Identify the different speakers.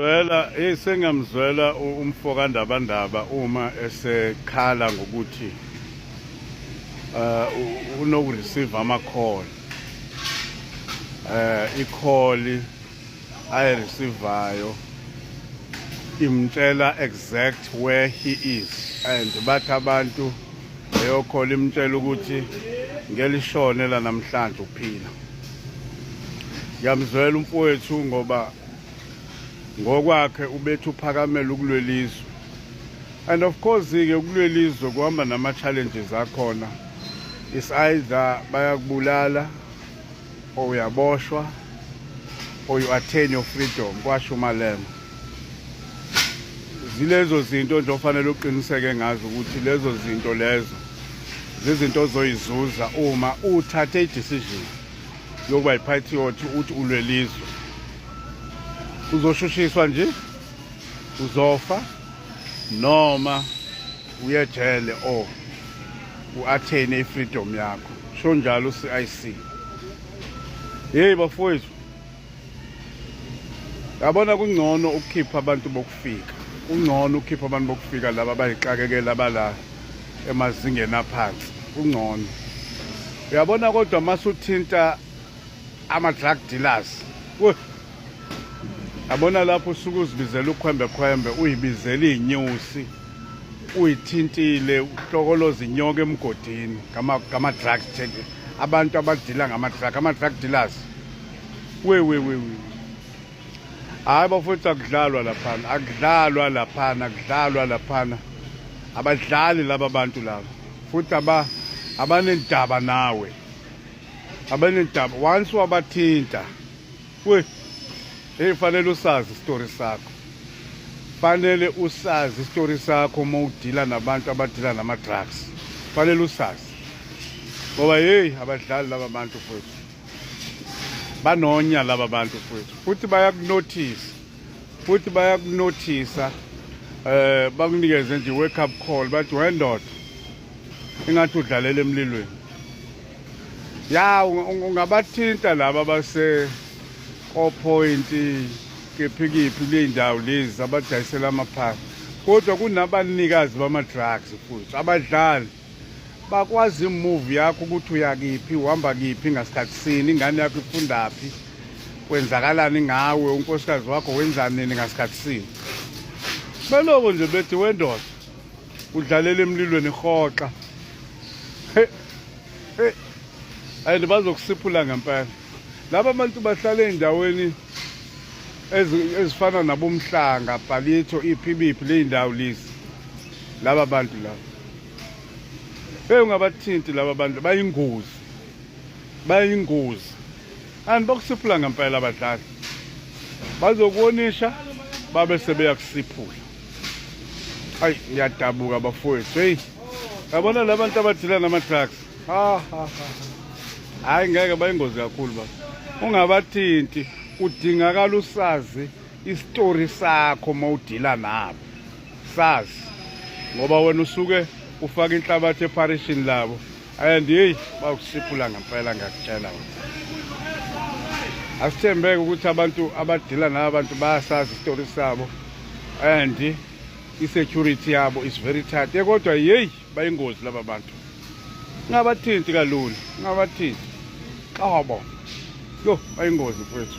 Speaker 1: Zwela hey sengamzwela umfo kaNdabandaba uma esekhala ngokuthi uh unokureceive ama call eh i call ayi receivayo imtshela exact where he is and bathi abantu leyo call imtshela ukuthi ngelishone la namhlanje uphila ngiyamzwela umfowethu ngoba ngokwakhe ubethi uphakamela ukulwelizwe and of course-ke ukulwelizwe kuhamba nama-challenges akhona is either bayakubulala or uyaboshwa or you attain your freedom kwasho umalema zilezo zinto nje ofanele uqiniseke ngazo ukuthi lezo zinto lezo zizinto ozoyizuza uma uthathe i-decision yokuba yi-patriot uthi ulwelizwe uzoshushiswa nje uzofa noma uyejele o u-athene i-freedom yakho sho njalo u-c i c yeyi bafowethu yabona kungcono ukukhipha abantu bokufika kungcono ukukhipha abantu bokufika laba bayixakekela bala emazingeni aphansi kungcono uyabona kodwa masuthinta ama-drug dealers yabona lapho usuke uzibizela ukhwembekhwembe uyibizela iy'nyusi uyithintile uhlokoloza inyoka emgodini ngama-drug abantu abadila ngama-drug ama-drug dealers we we we we hayi bafowethu akudlalwa laphana akudlalwa laphana akudlalwa laphana abadlali laba bantu laba futhi aba abanendaba nawe abanendaba once wabathinta we hey fanele usazi isitori sakho fanele usazi isitori sakho uma udila nabantu abadila nama-drugs fanele usazi ngoba yeyi abadlali laba bantu futhi banonya laba bantu futhi futhi bayakunothisa futhi bayakunothisa eh bakunikeze nje wake up call bathi wendoda ingathi udlalela emlilweni ya ungabathinta laba base oPoint kephikiphi leyindawo lezi abadayisela amaphasi kodwa kunabanikazi bama drugs futhi abadlali bakwazi move yakho ukuthi uyakiphi uhamba kiphi ngasikhathi sini ingane yakho ifundaphi kwenzakalani ngawe unkosikazi wakho wenzani nini ngasikhathi sini beloko nje bethi wendoda udlalela emlilweni hoxa and bazokusiphula ngempela laba bantu bahlala ey'ndaweni ezifana nabomhlanga bhalitho iphi biphi ley'ndawo lezi laba bantu laba hey ungabathinti laba bantu bayingozi bayingozi and bakusiphula ngempela abadlali bazokuwonisha babe sebeya kusiphula ayi ngiyadabuka bafowethu heyi yabona la bantu abadila nama-drugs hhayi ngeke bayingozi kakhulu ba ungabathinti kudingakala usazi isitori sakho uma udila nabo sazi ngoba wena usuke ufaka inhlabathi epharishini labo and heyi bawukusiphula ngempela ngiyakutshela wena asithembeke ukuthi abantu abadila naba bantu bayasazi isitori sabo and i-security yabo is very tight eh, kodwa yeyi bayingozi laba bantu ngabathinti kalula ngabathinti xabo yo bayingozi mfethu